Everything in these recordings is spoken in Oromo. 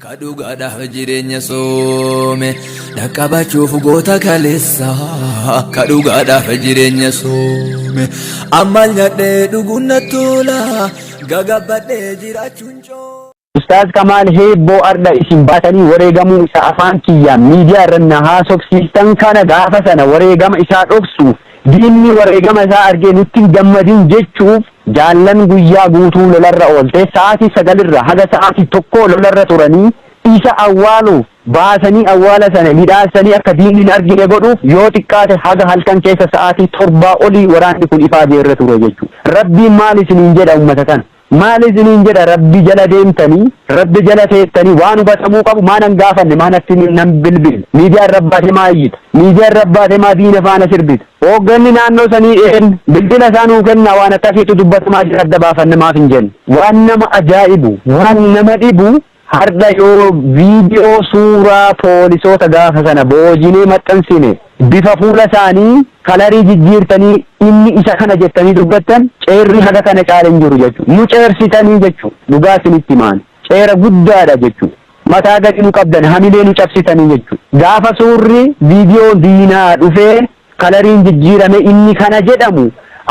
Ka dhugaadhaaf jireenya soome dhaqqabachuuf goota kaleessa ka dhugaadhaaf jireenya soome amma nyadhee dhuguun na tola gagabbadhee jiraachuun coo. Ustaaz Kamaal Heebboo Ardha isin baatanii wareegamuu isa afaan kiyyaan miidiyaa irra na haasofsiistan kana gaafa sana wareegama isaa dhoksuuf diinni wareegama isaa argee nutti hin gammadin jechuuf Jaallan guyyaa guutuu lolarra oolte, sa'aatii 9:00 irraa haga sa'aatii 1:00 lolarra turanii, isa awwaaluuf, baasanii awwaala sana midhaassanii akka diinni hin argine godhuuf yoo xiqqaate haga halkan keessa sa'aatii 7 olii waraanni kun ifaajee irra ture jechuudha. Rabbiin maal isiniin jedha ummata kana? Maal isiniin jedha Rabbi jala deemtanii, Rabbi jala teettanii waan hubatamuu qabu maa nan gaafanne, maa natti hin bilbille, miidiyaan Rabbaate maa iyyita, miidiyaan Rabbaate maa diina faana sirbita, Hoogganni naannoo sanii een bilbila isaa nuu kennaa waan akkasiitu dubbatamaa jira adda baafanne maaf hin jenne. Waan nama ajaa'ibu, waan nama dhibu hardha yoo video suuraa poolisoota gaafa sana boojinee maxxansine bifa fuula isaanii kalarii jijjiirtanii inni isa kana jettanii dubbattan ceerri haga kana caale hin jiru jechuudha. Nu ceersitanii jechuudha. Dhugaa isinitti himaani. Seera guddaadha jechu. Mataa gadi nu qabdan hamilee nu cabsitanii jechu. Gaafa suurri, video, diinaa dhufee kalariin jijjiirame inni kana jedhamu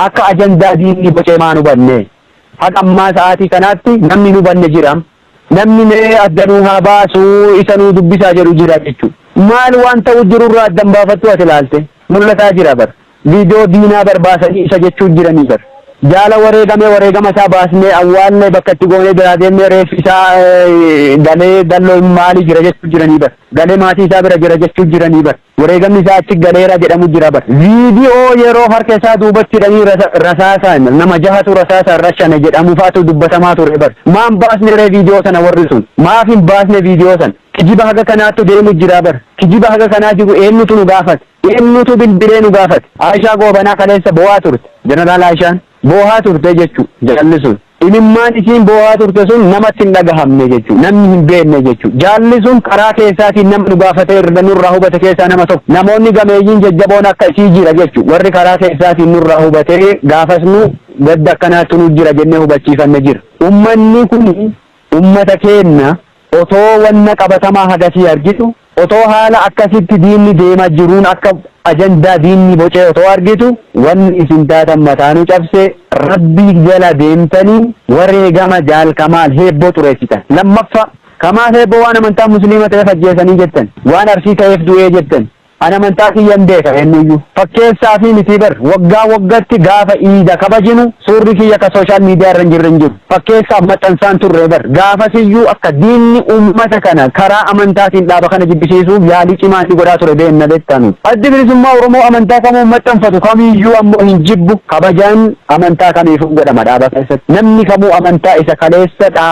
akka ajandaa diinni bocee maan hubanne? Haga ammaa sa'aatii kanaatti namni hin hubanne jira? Namni mee adda nuu haa baasu isa nuu dubbisaa jedhu jira jechu. Maal waan ta'u jirurraa adda hin baafattu ati ilaalte? Mul'ataa jira bar. Video diinaa bar baasanii isa jechuu jiranii bar. Jaala wareegame wareegama isaa baasnee awwaallee bakka itti goonee biraa deemnee reeffi isaa galee dalloo hin maali jira jechuu jiranii bar. Galee maatii isaa bira jira jechuu jiranii bar. Wareegamni isaa achi galeera jedhamu jira bar. Video yeroo harka isaa duubatti hidhanii rasaasaan nama jahatu rasaasaan rashane jedhamu faatu dubbatamaa ture bar. Maan baasne ree video sana warri sun. Maaf hin baasne video sana. Kijiba haga kanaattu deemu jira bar. Kijiba haga kanaa jiru eenyutu nu gaafate. Eennutu bilbilee nu gaafate? Aishaa Goobanaa kaleessa boo'aa turte. Jeneraal Aishaan boohaa turte jechu jaalli sun. Imimmaan isiin boohaa turte sun namatti hin dhagahamne jechu. Namni hin beenne jechu. Jaalli sun karaa keessaatiin nama nu gaafate irra nurraa hubate keessaa nama tokko. Namoonni gameeyyiin jajjaboon akka isii jira jechu. Warri karaa keessaatiin nurraa hubatee gaafas nu gadda akkanaattu nu jira jennee hubachiifanne jira. Ummanni kuni. Ummata keenna otoo wanna qabatamaa hagasii argitu, otoo haala akkasitti diinni deema jiruun akka ajandaa diinni bocee otoo argitu, wanni isin taatan mataa nu cabse, Rabbi jala deemtanii wareegama Jaal Kamaal Heebboo xureessitan. Lammaffaa, Kamaal Heebboo waan amantaan Musliima ta'eef ajjeesanii jettan, waan Arsii ta'eef du'ee jettan, Ani amantaa kiyyan beeka eennuyyuu fakkeessaa fi mitii bar waggaa waggatti gaafa iida kabajinu suurri kiyya ka social media irra hin jirre hin jiru fakkeessaaf maxxansaan turre bar gaafasiyyuu akka diinni ummata kana karaa amantaatiin dhaaba kana jibbisiisuuf yaalii cimaa inni godhaa ture beenna beektaa nuti addi bilisummaa oromoo amantaa kamuu maxxanfatu kamiyyuu ammoo hin jibbu kabajaan Amantaa kamiifuu hin godhama dhaaba keessatti. Namni kamuu amantaa isa kaleessa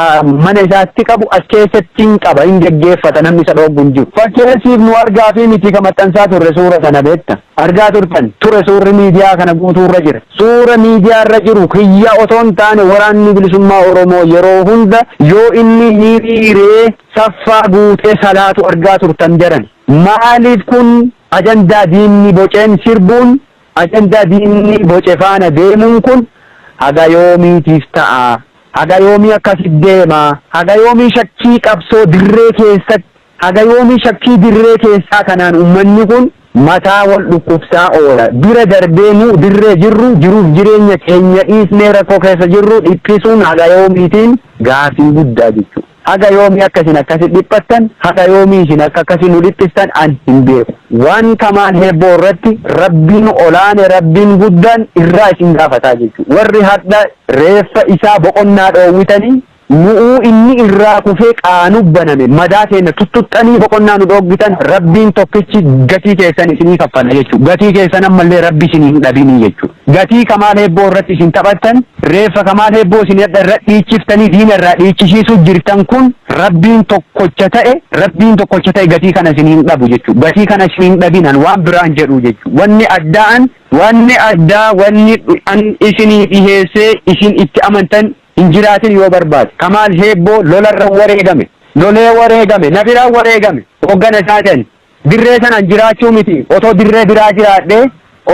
mana isaatti qabu as keessatti hin qaba, hin geggeeffata namni isa dhooggu hin jiru. Fakkeessiif nu argaafii miti ka maxxansaa turre suura sana beekta. Argaa turtan ture suurri miidiyaa kana guutuu irra jira. Suura miidiyaa irra jiru kiyya otoo hin taane waraanni bilisummaa Oromoo yeroo hunda yoo inni hiriiree saffaa guutee salaatu argaa turtan jedhan. Maaliif kun ajandaa diinni boceen sirbuun Ajandaa diinni boce faana deemuun kun haga yoomiitiif ta'a? Haga yoomii akkasi deema? Haga yoomii shakkii qabsoo dirree keessatti, haga yoomii shakkii dirree keessaa kanaan ummanni kun mataa wal dhukkubsaa oola? Bira darbee nu dirree jirru jiruuf jireenya keenya dhiisnee rakkoo keessa jirru dhiphisuun haga yoomiitiin gaaffii guddaa jechuudha. Haga yoomii akka isin akkasi dhiphattan, haga yoomii isin akka akkasi nu dhiphistan an hin beeku. Waan kamaan heebboo irratti Rabbiin olaane, Rabbiin guddaan irraa isin gaafataa jechu. Warri hardha reeffa isaa boqonnaa dhoowwitanii, nu'uu inni irraa kufee qaanu baname madaa teenna tuttuxxanii boqonnaa nu dhooggitan, Rabbiin tokkichi gatii keessan isinii kaffala jechu. Gatii keessan ammallee Rabbi isinii hin dhabinii jechu. Gatii kamaan heebboo irratti isin taphattan, Reeffa Kamaal Heebboo isin hadha irra dhiichiftanii diina irraa dhiichishiisuu jirtan kun Rabbiin tokkocha ta'e Rabbiin tokkocha ta'e gatii kana isin hin dhabu jechuu gatii kana isin hin dhabin an waan biraan jedhuu jechuu wanni addaa an wanni addaa wanni an isinii dhiheessee isin itti amantan hin jiraatin yoo barbaade Kamaal Heebboo lolarra wareegame lolee wareegame na biraa wareegame hoggana isaatan dirree sanaan jiraachuu miti otoo dirree biraa jiraadhee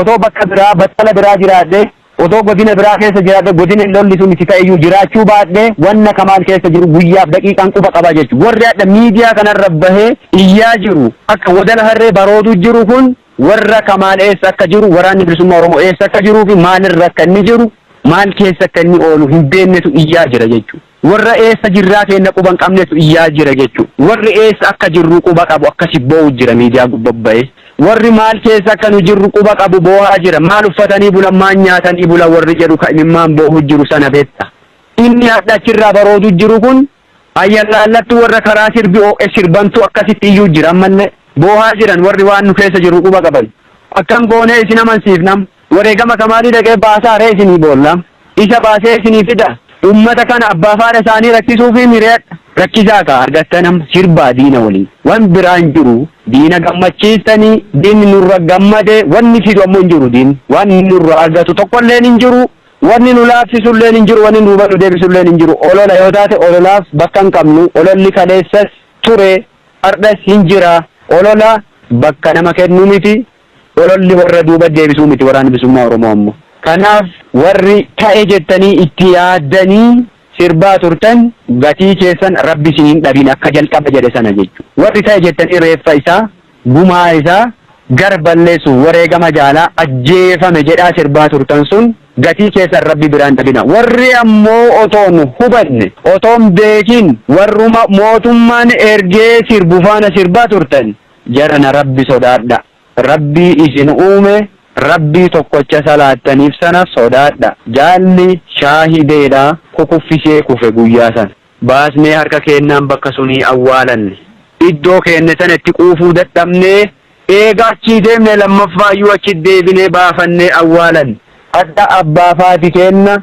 otoo bakka biraa battala biraa jiraadhee Otoo godina biraa keessa jiraadhee godina lolli sun itti ta'eyyuu jiraachuu baadhee wanna Kamaal keessa jiru guyyaaf daqiiqaan quba qaba jechu. Warri hadha miidiyaa kanarra bahee iyyaa jiru akka wadala harree baroodu jiru kun warra Kamaal eessa akka jiru waraanni bilisummaa Oromoo eessa akka jiruufi maalirra akka inni jiru maal keessa akka inni oolu hin beennetu iyyaa jira jechuudha. Warra eessa jirraa keenna quba hin qabnetu iyyaa jira jechu. Warri eessa akka jirruu quba qabu akkasi boo'u jira miidiyaa gubba ba'ee. Warri maal keessa akka nu jirru quba qabu boo'aa jira. Maal uffatanii bulan maal nyaatanii bulan warri jedhu ka imimmaan boo'u jiru sana beetta. Inni hadha achirraa baroodu jiru kun ayyallaallattu warra karaa sirbi oo'e sirbantu akkasitti iyyuu jira ammallee. Boo'aa jiran warri waan nu keessa jirru quba qaban. Akkam goonee isin amansiifnam? Wareegama kamaalii dhaqee baasaa ree isinii boolla? Isa baasee isinii fida? Ummata kana abbaa fi haadha isaanii rakkisuufii miriyadha. Rakkisaa kaa argattan amma sirbaa diina waliin. Wan biraa hin jiru. Diina gammachiistanii diinni nurra gammade wanni fidu ammoo hin jiru diinni. Waan inni nurraa argatu tokkolleen hin jiru. Wanni nu laaffisulleen hin jiru wanni duuba nu deebisulleen hin jiru. Olola yoo taate ololaaf bakka hin qabnu. Ololli kaleessas ture hardhas hin jira. Olola bakka nama kennu miti. Ololli warra duuba deebisuu miti Waraanni Bilisummaa Oromoo ammoo. Kanaaf warri ta'e jettanii itti yaaddanii sirbaa turtan gatii keessan Rabbi isin hin dhabin akka jalqaba jedhe sana jechu. Warri ta'e jettanii reeffa isaa, gumaa isaa, gara balleessuuf wareegama jaalaa ajjeefame jedhaa sirbaa turtan sun gatii keessan Rabbi biraa hin dhabina. Warri ammoo otoo hin hubanne, otoo hin beekin warruma mootummaan ergee sirbu faana sirbaa turtan, Jarana rabbi sodaadha rabbii isin uume rabbii tokkocha salaattanif sana sodaadha jaalli shaahideedha kukuffisee kufe guyyaa sana baasnee harka keennaan bakka sunii awwaalanne iddoo keenne sana itti quufuu dadhabnee eega achii deemne lammaffaayyuu achi deebinee baafannee awwaalanne hadha abbaa faati keenna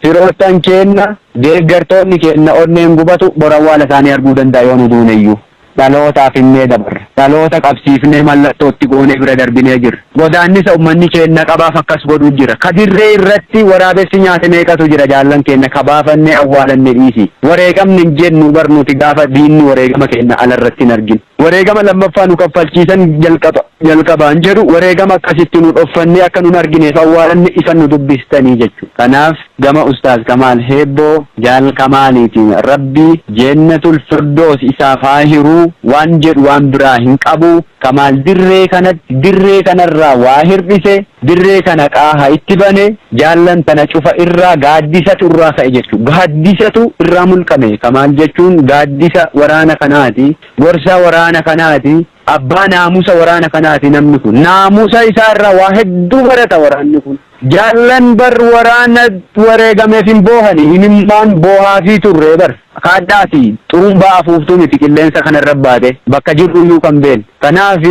Firoottan keenna, deeggartoonni keenna onneen gubatu bor awwaala isaanii arguu danda'a yoo nu duuneyyuu. Dhalootaaf himnee dabarra. Dhaloota qabsiifnee mallattoo itti goonee bira darbinee jirra. Godaannisa ummanni keenna qabaaf akkas godhu jira. Ka dirree irratti waraabessi nyaate meeqatu jira jaallan keenna ka baafannee awwaalanne dhiisii. Wareegamne hin jennu bar nuti gaafa diinni wareegama keenna ala irratti hin argin. Wareegama lammaffaa nu kaffalchiisan jalqaba jalqabaan jedhu wareegama akkas itti nu dhoffannee akka nun argineef awwaalanne isan nu dubbistanii jechuudha. Kanaaf gama Ustaaz Kamaal Heebboo Jaal Kamaaliitiin Rabbi Jeennatul Firdoos isaaf haa hiru waan jedhu waan biraa hin qabu. Kamaal dirree kanatti dirree kanarraa waa hirdhise Dirree kana qaaha itti bane, jaallan tana cufa irraa gaaddisatu irraa ka'e jechu. Gaaddisatu irraa mulqame ka maal jechuun gaaddisa waraana kanaati, gorsa waraana kanaati, abbaa naamusa waraana kanaati namni kun. Naamusa isaa irraa waa hedduu barata waraanni kun. Jaallan bar waraana wareegameef hin boohani, imimmaan boohaafii turre bar. Kaadhaa fi xurumbaa afuuftuu miti qilleensa kana irra baate, bakka jirru iyyuu kan beeknu. Kanaaf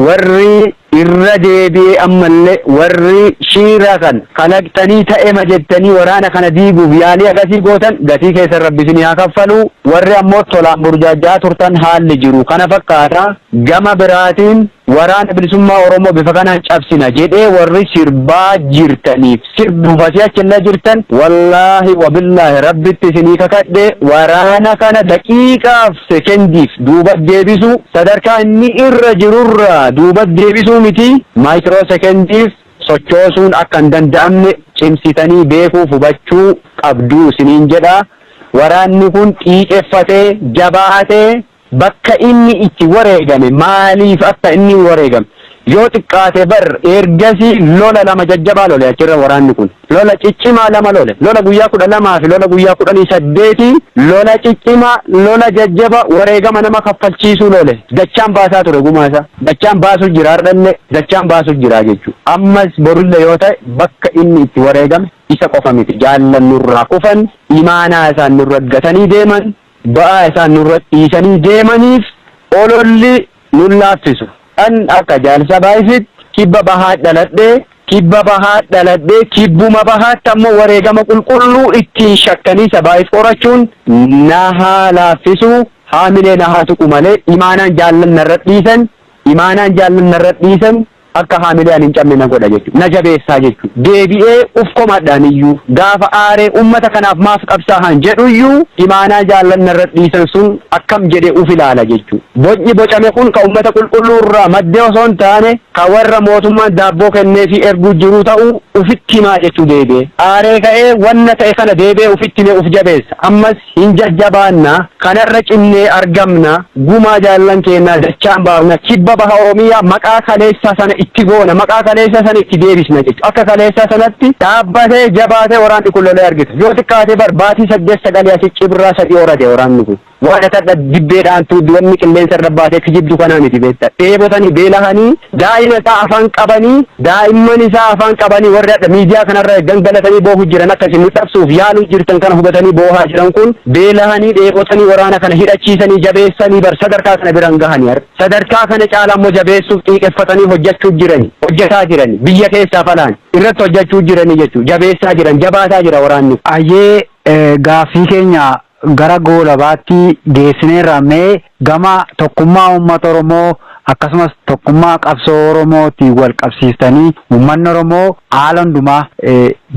warri Irra deebi'ee ammallee warri shiira kan kalaqxanii ta'ema jettanii waraana kana diiguuf yaalii akasii gootan gatii keessan rabbi isinii haa kaffalu, warri ammoo tolaan burjaajja'aa turtan haalli jiru kana fakkaata, gama biraatiin waraana bilisummaa oromoo bifa kanaan cabsina jedhee warri sirbaa jirtaniif sirbuuf asii achillee jirtan wallaahi wabillaahi rabbitti isinii kakadhe waraana kana daqiiqaaf sekendiif duubat deebisuu, sadarkaa inni irra jirurraa duubat deebisuu mitii maaykiroo sekendiif sochoosuun akka hin danda'amne cimsitanii beekuuf hubachuu qabdu isiniin jedha. Waraanni kun xiiqeffatee, jabaatee bakka inni itti wareegame, maaliif akka inni wareegame yoo xiqqaate bar ergasii lola lama jajjabaa lole achirra waraanni kun. Lola ciccimaa lama lole. Lola guyyaa 12 fi lola guyyaa 18 lola ciccimaa, lola jajjaba wareegama nama kaffalchiisuu lole. Dachaan baasaa ture gumaa isaa. Dachaan baasu jira hardhalle dachaan baasu jira jechu. Ammas borulle yoo ta'e bakka inni itti wareegame isa qofa miti. Jaallan nurraa kufan, imaanaa isaan nurra gatanii deeman. Ba'aa isaan nurra dhiisanii deemaniif ololli nun laaffisu. An akka Jaal Sabaayisitti Kibba Bahaat dhaladhe, Kibba Bahaat dhaladhe, Kibbuma Bahaatti ammoo wareegama qulqulluu ittiin shakkanii Sabaayis qorachuun na haa laaffisu, haamilee na haa tuqu malee imaanaan jaallan narra dhiisan, imaanaan jaallan narra dhiisan, akka haamilee ani hin cabne na godha jechuudha. Na jabeessaa jechuudha. Deebi'ee uf komadhaan iyyuu, gaafa aaree uummata kanaaf maaf qabsaahan jedhu iyyuu imaanaa jaallan narra dhiisan sun akkam jedhee uf ilaala jechuudha. Bocni bocame kun ka uummata qulqulluu irraa madde osoo hin taane ka warra mootummaan daabboo kenneefii erguu jiruu ta'uu ufitti himaa jechuu deebi'ee aaree ka'ee wanna ta'e kana deebi'ee ufitti himee uf jabeessa. Ammas Hin jajjabaanna, kanarra cimnee argamna, gumaa jaallan keennaa dachaan baafna, kibba baha Oromiyaa maqaa kaleessaa sana itti goona, maqaa kaleessaa sana itti deebisna jechuudha. Akka kaleessaa sanatti dhaabbatee, jabaatee waraanni kun lolee argita. Yoo xiqqaate bar baatii saddeet sagalii asi cibirraa sadii horate waraanni kun. Waan akka dibbee dhaantuu wanni qilleensa irra baatee kijibdu kanaa miti beektaa. Dheebotanii, beelahanii Daa'ima isaa afaan qabanii daa'imman isaa afaan qabanii warri hadha miidiyaa kanarra gangalatanii boohu jiran akka isin nu cabsuuf yaaluu jirtan kana hubatanii boohaa jiran kun beelahanii dheebotanii waraana kana hidhachiisanii jabeessanii bar sadarkaa kana biran gahanii har sadarkaa kana caalaa immoo jabeessuuf xiiqeffatanii hojjechuu jirani hojjetaa jirani biyya keessaaf alaan irratti hojjechuu jiranii jechuu jabeessaa jiran jabaataa jira waraanni. Ayyee gaaffii keenya gara goolabaatti geessineerra mee Gama tokkummaa uummata Oromoo akkasumas tokkummaa qabsoo Oromootiin wal qabsiistanii uummanni Oromoo haala hundumaa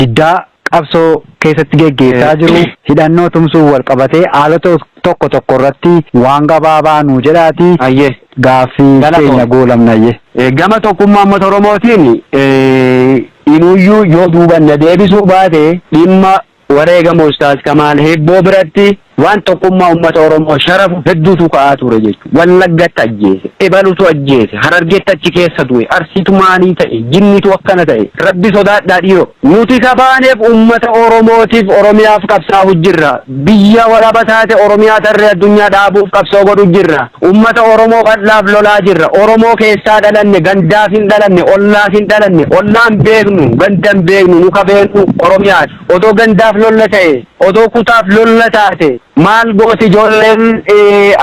diddaa qabsoo keessatti geggeessaa jiru hidhannoo tumsuun wal qabatee haalota tokko tokko irratti waan gabaabaa nuu jedhaatii Hayyee. gaaffii Galatoom. keenya goolabna hayyee. Eh, Gama tokkummaa uummata Oromootiin eh, inuyyuu yoo duuban na deebisuu baate dhimma Wareegama Ustaaz Kamaal Hibboo biratti waan tokkummaa ummata Oromoo sharafu hedduutu ka'aa ture jechuudha. Wallaggatti ajjeese, ebalutu ajjeese, Harargeetti achi keessa du'e, Arsiitu maalii ta'e, Jinnitu akkana ta'e. Rabbi sodaadhaa dhiiroo. Nuti ka baaneef ummata Oromootiif, Oromiyaaf qabsaa'u jirra. Biyya walaba taate Oromiyaa tarree addunyaa dhaabuuf qabsoo godhu jirra. Ummata Oromoo bal'aaf lolaa jirra. Oromoo keessaa dhalanne, gandaaf hin dhalanne, ollaaf hin dhalanne, ollaa hin beeknu, ganda hin beeknu, nu ka beeknu Oromiyaadha. Odoo gandaaf lolla ta'e, odoo kutaaf lolla taate maal gooti ijoolleen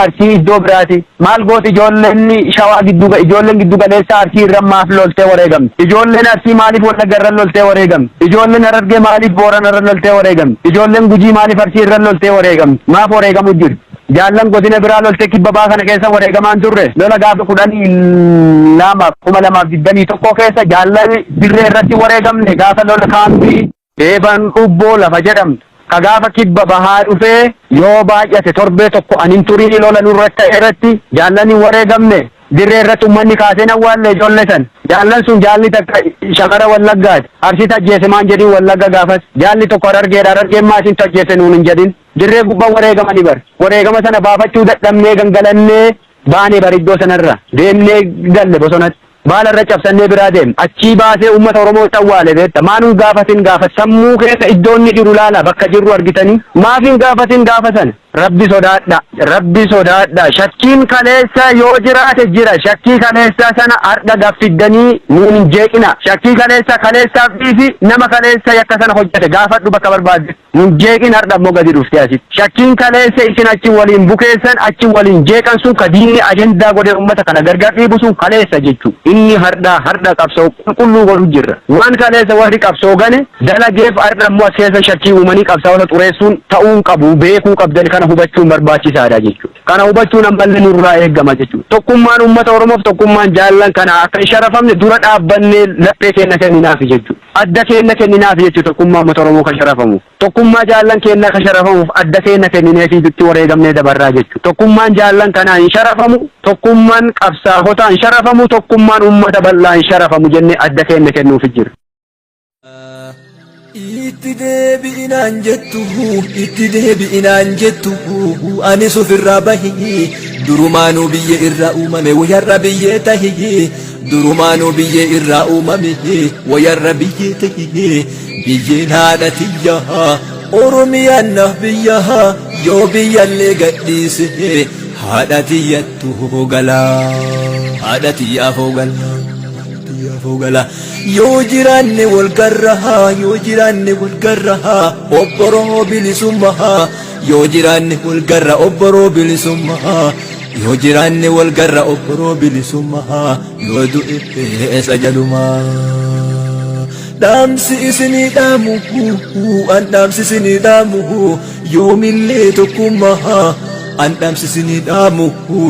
Arsii iddoo biraati? Maal gooti ijoolleen Shawaa giddu ga- ijoolleen giddu galeessaa Arsii irra maaf loltee wareegamti? Ijoolleen Arsii maaliif Wallagga irra loltee wareegamti? Ijoolleen Harargee maaliif Boorana irra loltee wareegamti? Ijoolleen Gujii maaliif Arsii irra loltee wareegamti? Maaf wareegamu jirti? Jaallan godina biraa loltee kibba baha kana keessa wareegamaa hin turre. Lola gaafa 12/2021 keessa jaallan dirree irratti wareegamne gaafa lola kaampii Deeban Ubboo lafa jedhamtu ka gaafa kibba bahaa dhufee yoo baay'ate torbee tokko an hin turin lola nurratti ta'e irratti jaallan hin wareegamne. Dirree irratti ummanni kaasee hin awwaalle ijoollee san. Jaallan sun jaalli takka shamara Wallaggaati. Arsiitu ajjeese maan jedhin Wallagga gaafas. Jaalli tokko Harargeedha Harargeen maa isintu ajjeese nuun hin jedhin. Dirree gubbaa wareegamani bar. Wareegama sana baafachuu dadhabnee gangalannee baane bar iddoo sanarra. Deemnee galle bosonatti. Baala irra cabsannee biraa deemne. Achii baasee uummata Oromootti awwaale beekta. Maa nun gaafatin gaafa sammuu keessa iddoo inni jiru laala bakka jirru argitanii. Maaf hin gaafatin gaafa sana. Rabbi sodaadha. Rabbi sodaadha. Shakkiin kaleessa yoo jiraate jira. Shakkii kaleessaa sana har'a gad fiddanii nuun hin jeeqina. Shakkii kaleessa kaleessaaf dhiisi nama kaleessa yakka sana hojjete gaafadhu bakka barbaadde. Nun jeeqin hardha immoo gadi dhuftee asitti. Shakkiin kaleessa isin achi waliin bukeessan, achi waliin jeeqan sun ka diinni ajandaa godhee ummata kana gargar dhiibu sun kaleessa jechuu. Inni hardhaa hardha qabsoo qulqulluu godhu jirra. Waan kaleessa warri qabsoo gane dalageef hardha immoo as keessa shakkii uumanii qabsaa'ota xureessuun ta'uu hin qabu. Beekuu qabdan kana hubachuun barbaachisaadha jechuu. Kana hubachuun ammallee nurraa eegama jechuu. Tokkummaan ummata Oromoof tokkummaan jaallan kana akka hin sharafamne dura dhaabbannee laphee keenna kenninaafi jechuu. Adda keenna kenninaafi jechu tokkummaa ummata Oromoo ka sharafamu. Tokkummaa jaallan keennaa ka sharafamuuf adda keenna kennineefii dutti wareegamnee dabarraa jechu. Tokkummaan jaallan kanaa hin sharafamu, tokkumman qabsaahotaa hin sharafamu, tokkummaan ummata bal'aa hin sharafamu jennee adda keenna kennuufi jirra. Itti deebi'i naan jettu, itti deebi'i naan jettu, anis ofirraa bahi, durumaanuu biyya irraa uumame wayarra biyyee tahi. Durumaanuu biyyee irraa uumame wayarra biyyee ta'e biyyeen haadha tiyyaa Oromiyaan naaf biyyaa yoo biyyallee gadhiise haadha tiyyattu hoogalaa haadha tiyyaa hoogalaa tiyyaa hoogalaa yoo jiraanne wal garraa yoo jiraanne wal garraa obboroo bilisummaa yoo jiraanne wal garraa obboroo bilisummaa Yoo jiraanne wal garra obboroo bilisummaa yoo du'e eessa jalumaa. Dhaamsi isinii dhaamu an dhaamsi isinii dhaamu yoomillee tokkummaa an dhaamsi isinii dhaamu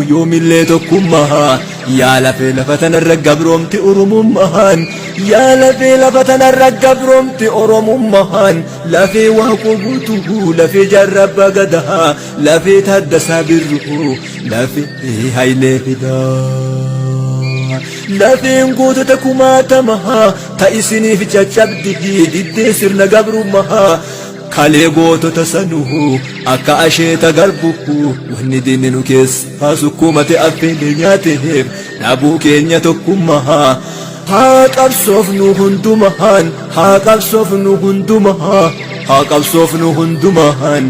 yoomillee tokkummaa yaa lafee lafa tanarra gabroomti oromummaan yaa lafee lafa tanarra gabroomti oromummaan lafee waaqoo guutuu lafee jaarraa baagadaa Lafee Taaddasaa Birruu, lafee Hayilee Fidaa. Lafeen gootota kumaatamaa, ta isiniif caccabdi diddee sirna gabrummaa. Kalee gootota sanuu, akka asheeta garbuu, wanni diinni nu keessaa sukkuumate affeelee nyaateef, dhabuu keenya tokkummaa. Haa qabsoofnu hundumaan, haa qabsoofnu hundumaan, haa qabsoofnu hundumaan.